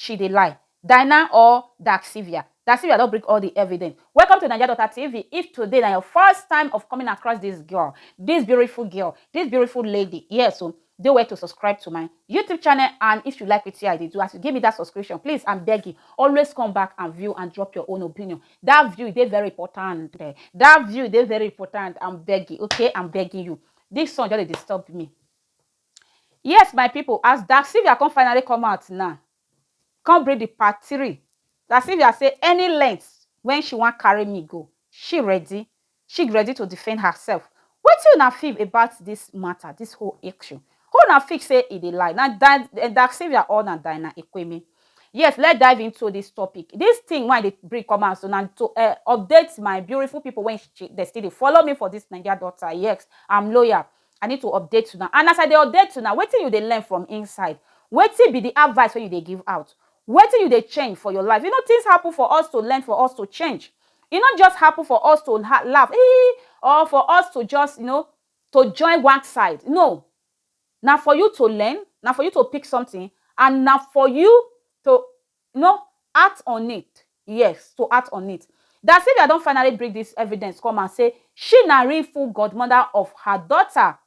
She dey lie. Daina or Daxivia? Daxivia don bring all the evidence. Welcome to Naija Daughter TV, if today na your first time of coming across this girl, this beautiful girl, this beautiful lady, yes o, dey well to subscribe to my YouTube channel and if you like wetin I dey do, as you give me that subscription, please I'm begging, always come back and view and drop your own opinion. That view dey very important, that view dey very important, I'm begging, okay, I'm begging you. This son just dey disturb me. Yes my pipu as Daxivia come finally come out now come bring the part three Daxivia say any length when she wan carry me go she ready she ready to defend herself wetin una feel about this matter this whole issue who una feel say e dey lie na Daxivia or na Diana Ekweme yes let's dive into this topic this thing wey I dey bring come out so na to um update my beautiful pipu wey dey still dey follow me for this naija delta yes I'm loyal I need to update una and as I dey update una wetin you dey learn from inside? Wetin be the advice wey you dey give out? Wetin you dey change for your life? You know things happen for us to learn for us to change e no just happen for us to laugh hee or for us to just you know to join one side no na for you to learn na for you to pick something and na for you to no act on it yes to act on it dat Sylvia don finally bring dis evidence come out say she na real full godmother of her daughter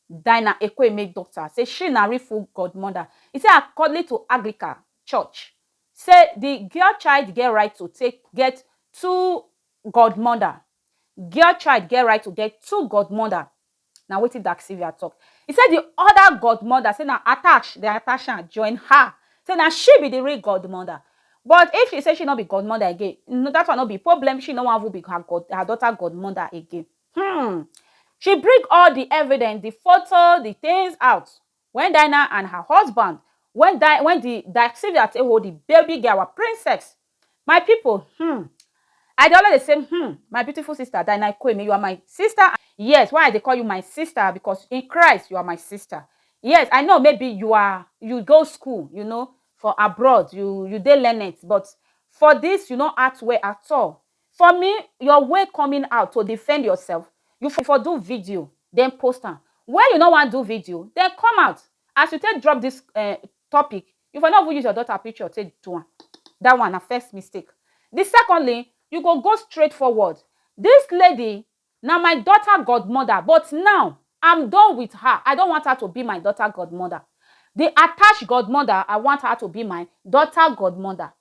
Dinah Ekwueme daughter say she na real full godmother e say accordly to Aglica church say di girl child get right to take get two godmother girl child get right to get two godmother Na wetin Dark Sylvia tok. E say di oda godmother say na attach dem attach am join her, say na she be di real godmother. But if she say she no be godmother again, dat one no be problem, she no wan even be her god her daughter godmother again. Humm. She bring all di evidence, di foto, di tins out Wen Daina and her husband wen die wen di die Sylvia take hold di baby girl our princess my pipo hmm I dey always dey say hmm my beautiful sister Daina Ikueme you are my sister and yes why I dey call you my sister because in Christ you are my sister yes I know maybe you are you go school you know for abroad you you dey learned but for this you no act well at all For me, your way coming out to defend yourself, you for for do video then post am. When you no wan do video, then come out as you take drop this um topic, you for no even use your daughter picture take do am, that one na first mistake. The secondly, you go go straight forward, this lady na my daughter godmother but now I'm done with her, I don't want her to be my daughter godmother, the attached godmother I want her to be my daughter godmother.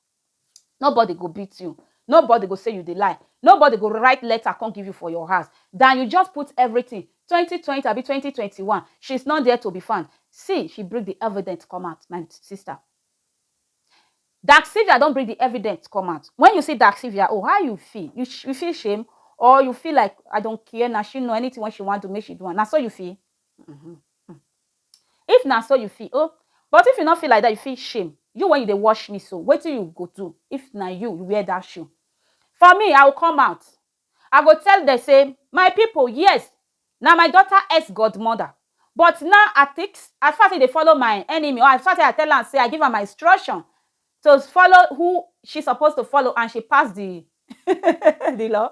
Nobody go beat you, nobody go say you dey lie, nobody go write letter come give you for your house than you just put everything twenty twenty abi twenty twenty one she's not there to be found see she bring the evident come out my sister Dark Sylvia don bring the evident come out when you see Dark Sylvia own how you feel you you feel shame or you feel like I don care na she know anything wey she wan do make she do am na so you feel? If na so you feel oh But if you no feel like that you fit shame You when you dey watch me so Wetin you go do if na you wear that shoe For me I will come out I go tell them say My people yes Na my daughter ex godmother But now I think As far as he dey follow my enemy Or as far as I tell am say I give am my instruction To follow who she suppose to follow And she pass the the law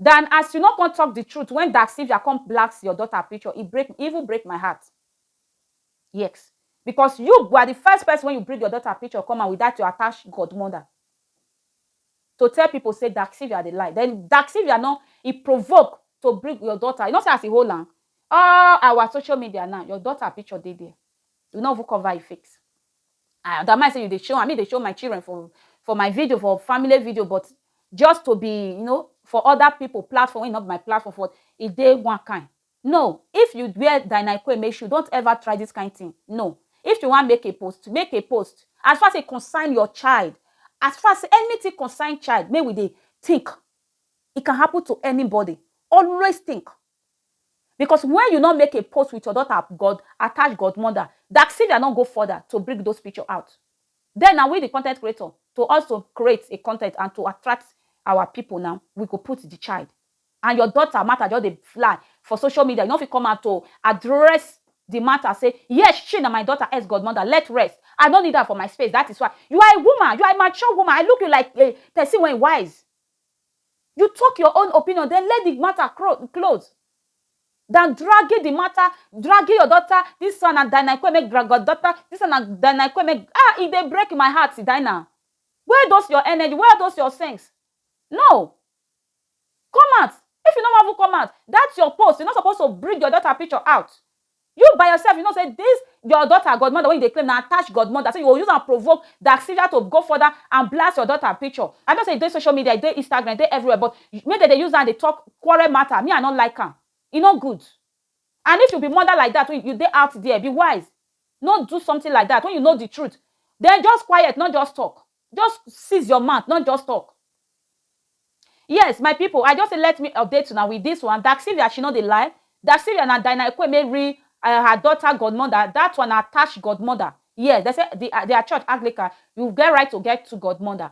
Dan as you no come talk the truth when dark sylvia come blacks your daughter picture e break e even break my heart yex because you were the first person when you bring your daughter picture come out with that your attached godmother to tell people say dark sylvia dey lie then dark sylvia no e provoke to bring your daughter you no see as e hold am all our social media now your daughter picture dey there You no even cover your face. I don't mind say you dey show am, me dey show my children for for my video, for family video, but just to be, you know, for other people platform, wey no be my platform, for e dey one kind. No, if you wear Diana Ikueme shoe, don't ever try this kind thing. No. If you wan make a post, make a post. As far as e concern your child, as far as anything concern child, make we dey think. E can happen to anybody. Always think. Because wen you no make a post wit your daughter god attached godmother, Daxivia no go further to bring those picture out. Den na we di content creator to also create a content and to attract our pipo na we go put di child and your daughter matter just dey fly for social media you no fit come out to address di matter say yes she na my daughter ex godmother let rest I no need her for my space dat is why you are a woman you are a mature woman I look you like a person wey wise You talk your own opinion then let the matter close than dragging the matter, dragging your daughter, this one na Dinah Ikwe make drag your daughter, this one na Dinah Ikwe make, ah, e dey break my heart, Dinah. Where those your energy, where are those your sense? No! Come out, if you no wan even come out, that your post, you no suppose to bring your daughter picture out, You by yourself you know say this your daughter godmother wey you dey claim na attached godmother say you go use am provoke Daxivia to go further and blast your daughter picture I know say e dey social media e dey Instagram e dey everywhere but make dem dey use am dey talk quarrel matter me I no like am e no good and if you be mother like that you dey out there be wise no do something like that when you know the truth then just quiet no just talk. Just seize your mouth not just talk. Yes my people I just say let me update una with this one Daxivia she no dey lie Daxivia na Dinaekwe Mary um her daughter godmother that one na attached godmother yes dem say the their church Anglican you get right to get two godmother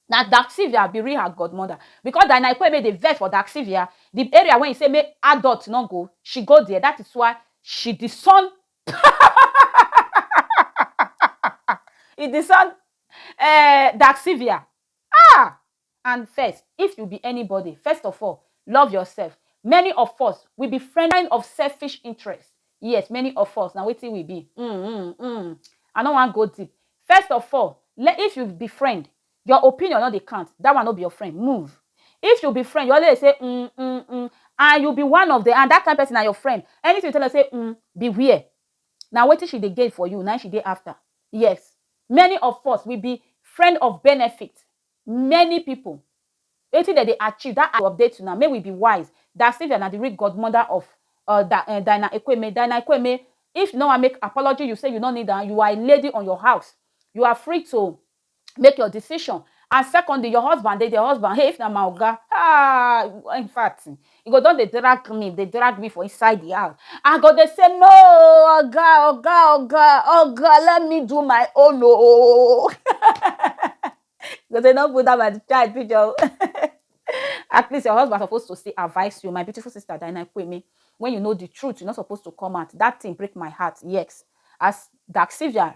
na Daxivia be real her godmother because Dinaekwe Mary dey vex for Daxivia the area wey he say make adult no go she go there that is why she disown e dey sound um dark severe um and first if you be anybody first of all love yourself many of us we be friend kind of selfish interest yes many of us na wetin we be um um um I no wan go deep first of all if you be friend Your opinion no dey count, that one no be your friend, move. If you be friend, you always dey say um um um and you be one of them and that kind person na your friend, anything you tell am say um beware. Na wetin she dey gain for you na im she dey after. Yes, many of us we be friend of benefit, many people wetin dem dey achieve that to update una make we be wise, Dasylvia na the real godmother of um Dinah Ekweme, Dinah Ekweme if you no wan make apology you say you no need am, you are a lady on your house, you are free to make your decision and secondly your husband dey your husband hey if na my oga ah in fact e go don dey drag me dey drag me for inside the house i go dey say no oga oga oga oga let me do my own oo go say no put that my child picture o at least your husband suppose to still advise you my beautiful sister Diana Kwemi when you know the truth you no suppose to come out that thing break my heart yes as Daxivia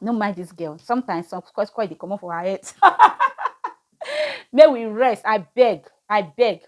no mind this girl sometimes some square square dey comot for her head make we rest i beg i beg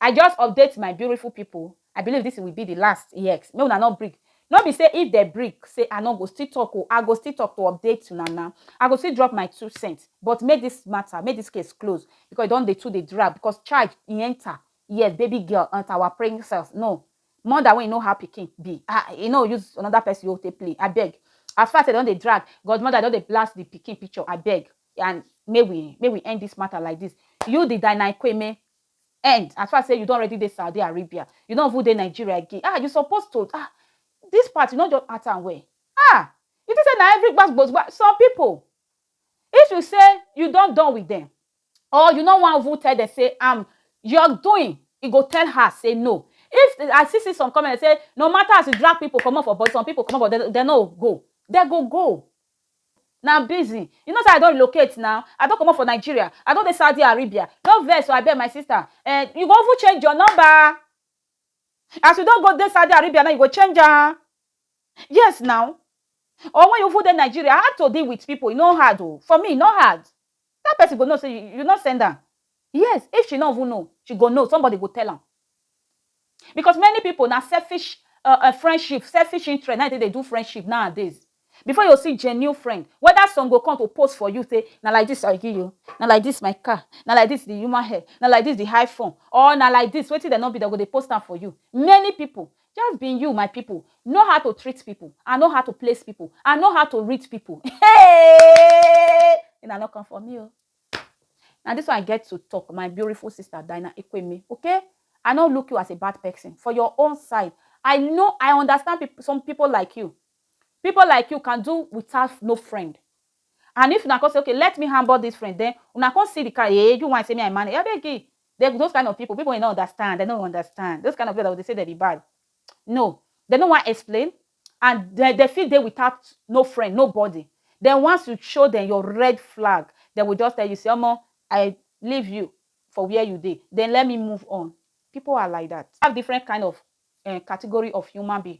i just update my beautiful people i believe this will be the last yes make una no bring no be say if they bring say i no go still talk o oh, i go still talk to update una na i go still drop my two cents but make this matter make this case close because e don dey too dey drag because charge e enter yes baby girl enter our praying cells no Mother wey e no have pikin be ah e no use another person own take play abeg. As far say dem don dey drag godmother don dey blast the pikin picture abeg and make we make we end this matter like this. You the Dynaiqueme end as far say you don already dey Saudi Arabia you no even dey Nigeria again ah you suppose to ah this part you no just act am well ah you think say na every gbas gbos gbas some people if you say you don done with them or you no wan even tell dem say am your doing e go tell her say no if I see see some comment say no matter as you drag people comot for body some people comot for dem dem no go dem go go na busy you know say I don relocate now I don comot for Nigeria I don dey Saudi Arabia no vex o abeg my sister eh you go even change your number As you don go dey Saudi Arabia now you go change am? Yes now. Or when you even dey Nigeria, how to deal with people e no hard o. For me e no hard. That person go know say you you no send am. Yes, if she no even know, she go know, somebody go tell am. Because many people na selfish um friendship, selfish interest na im dey take dey do friendship nowadays. Before you see genuine friend, whether some go come to post for you say na like this I give you, na like this my car, na like this the human hair, na like this the high phone or na like this wetin dem no be dem go dey post am for you. Many people, just be you my people, know how to treat people and know how to place people and know how to read people hey una no come for me o. Na this one I get to talk my beautiful sister Dinah Ikweme okay I no look you as a bad person for your own side I know I understand people some people like you People like you can do without no friend and if una come say okay let me hambour this friend then una come see the car hey eh, you want say me I manage abeg eh, they, those kind of people people will not understand they don't understand those kind of people that they say they be bad no they don't want to explain and they, they feel they without no friend nobody then once you show them your red flag they will just tell you say omo I leave you for where you did then let me move on people are like that have different kind of uh, category of human being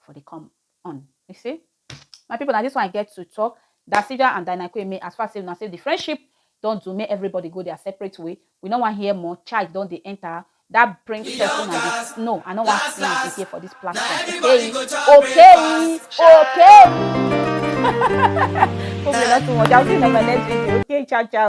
for dey come on. You see, my people, na this one I get to talk. Dasija and Dynakwe me as far as say una say the friendship don do make everybody go their separate way. We no wan hear more. Child don dey enter. That brings We person don and gas. the no, I no wan Gas, see am gas. again for this Na platform. everybody Okay, go chop okay, breakfast. okay. Hope you not too much. I'll see you in my next video. Okay, ciao, ciao.